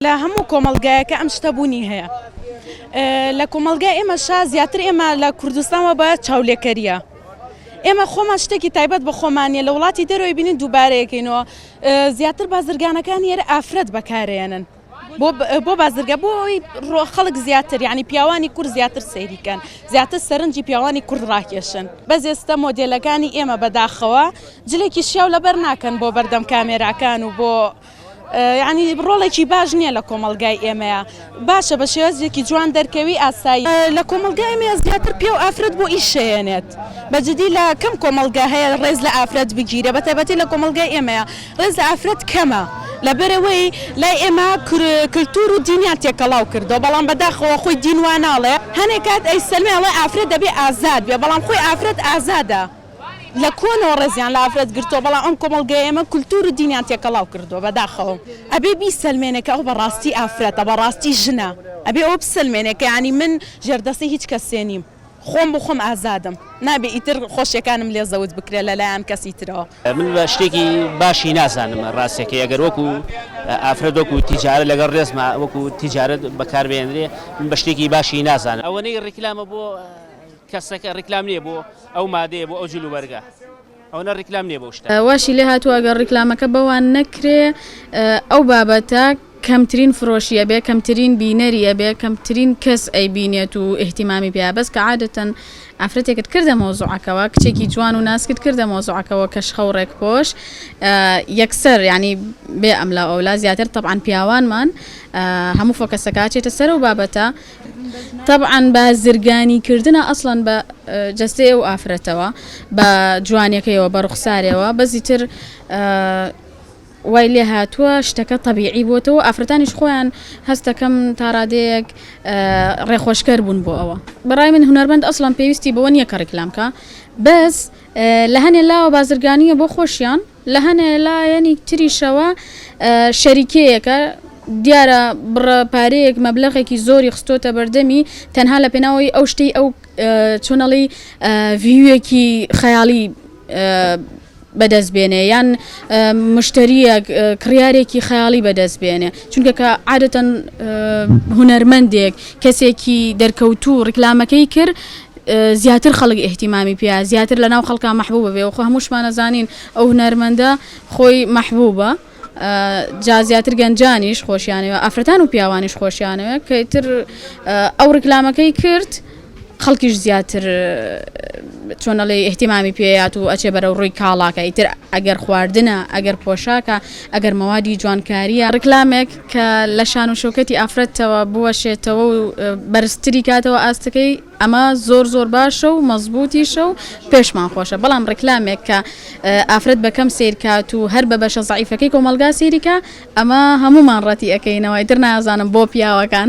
لە هەموو کۆمەڵگایەکە ئەم شتە بوونی هەیە لە کۆمەلگای ئێمە شا زیاتر ئێمە لە کوردستانەوە بە چاولێکەریە ئێمە خۆمان شتێکی تایبەت بە خۆمانە لە وڵاتی دەرەوەی بینین دووبارەیەکەینەوە زیاتر بازرگانەکان یێرە ئافرەت بەکارێنن بۆ بازرگە بۆ ئەوی ڕۆ خەڵک زیاتر ینی پیاوانی کورد زیاتر سەیریکەن زیاتر سەرنجی پیاوانی کورد ڕاکێشن بەزێستە مۆدلەکانی ئێمە بەداخەوە جلێکی شیاو لەبەر ناکەن بۆ بەردەم کامێراکان و بۆ یانی ڕۆڵێکی باش نییە لە کۆمەڵگای ئێمەیە باشە بە شێوەزێکی جوان دەرکەوی ئاسایی لە کۆمەلگای ئێمەیە زیاتر پێ و ئافرەت بۆ ئیش شەیەنێت بەجدی لە کەم کۆمەلگا هەیە ڕێز لە ئافرەت بگیرێ بە تایبەتی لە کۆمەلگای ئێمەیە ڕێز لە ئافرەت کەمە لەبەرئەوەی لای ئێمە کلتور و دینیان تێکەڵاو کردەوە بەڵام بەداخەوە خۆی دین وا ناڵێ هەنێ کات ئەیسەلمێ ئەڵێ ئافرەت دەبێ ئازاد بێ بەڵام خۆی ئافرەت ئازادە. لە کۆنەوە ڕێزیان لە ئافرەت گرتووە بەڵام ئەم کۆمەڵگەیە ئێمە کولتوور و دینیان تێکەڵاو کردووە بەداخەوە ئەبێ بیسەلمێنێ کە ئەو بەڕاستی ئافرەتە بەڕاستی ژنە ئەبێ ئەوە بسەلمێنێ کە یانی من ژێردەستی هیچ کەسێ نیم خۆم بۆ خۆم ئازادم نابێ ئیتر خۆشیەکانم لێ زەوت بکرێ لە لایان کەسی ترەوە. من بە شتێکی باشی نازانم ڕاستەکەی ئەگەر وەکو ئافرەت وەکو تیجارەت لەگەڵ ڕێزما وەکو تیجارەت بەکاربهێنرێ من بە شتێکی باشی نازانم. ئەوەنەی ڕیکلامە بۆ. کەسەکە ڕیکلام نیە بۆ ئەو مادەیە بۆ ئەو جل و بەرگە ئەونە ڕیکلام نیە بەو شتە. واشی لێ هاتووە گەر ڕیکلامەکە بەوان نەکرێ ئەو بابەتە کەمترین فرۆشی ئەبێ کەمترین بینەری ئەبێ کەمترین کەس ئەیبینێت و ئیهتیمامی پێیە بەس کە عادەتەن ئافرەتێکت کردە مەوزوعەکەوە کچێکی جوان و ناسکت کردە مەوزوعەکەوە کە شخە و ڕێکپۆش یەکسەر یعنی بێ ئەملاو ئەولا زیاتر تەبعەن پیاوانمان هەموو فۆکەسەکە ئەچێتە سەر و بابەتە تەبعەن بازرگانی کردنە ئەسڵەن بە جەستەی ئەو ئافرەتەوە بە جوانیەکەیەوە بە ڕوخسارەوە بەزی تر وای لێ هاتووە شتەکە طببیعی بۆتەوە ئافرەتانیش خۆیان هەستەکەم تاڕادەیەک ڕێخۆشکەر بوون بۆ ئەوە بەڕای من هوەرمەند ئەسڵان پێویستی بەوە نییە کە ڕیکلامکە بەس لە هەنێ لاوە بازرگانیە بۆ خۆشیان لە هەنێ لایەنی تریشەوە شەریکەیەکە دیارە بڕە پارەیەک مەبلەغێکی زۆری خستۆتە بەردەمی تەنها لە پێناوەی ئەو شتەی ئەو چۆنەڵی ڤیوێکی خەیاڵی بەدەست بێنێ یان مشتریە کڕارێکی خەیاڵی بەدەست بێنێ چونکە کە عادەتەن هوەرمەندێک کەسێکی دەرکەوتو ڕیکلامەکەی کرد زیاتر خەڵک ئیهتیمامی پێیە زیاتر لەناو خەڵکا مەحبوبە بێ وەخۆ هەمووشمان ئەزانین ئەو هونەرمەندە خۆی مەحبوبە جا زیاتر گەنجانیش خۆشیانەوە ئافرەتان و پیاوانیش خۆشیانەوە کەتر ئەو ڕکلامەکەی کرد خەڵکیش زیاتر چۆنەڵێ احتیمامی پێیات و ئەچێ بەرە ڕووی کاڵاکە ئیتر ئەگەر خواردنە ئەگەر پۆشاکە ئەگەر مەوادی جوانکاریە ڕکلامێک کە لە شان و شەوکەتی ئافرەتەوە بوەشێتەوە و بەرزتری کاتەوە ئاستەکەی ئەمە زۆر زۆر باشە و مەزبوتیشە و پێشمان خۆشە بەڵام ڕیکلامێک کە ئافرەت بەکەم سیرکات و هەر بە بەشە زعیفەکەی کۆمەلگا سیریکە ئەمە هەمومان ڕەتی ئەەکەینەوە ئیتر نازانم بۆ پیاوەکان.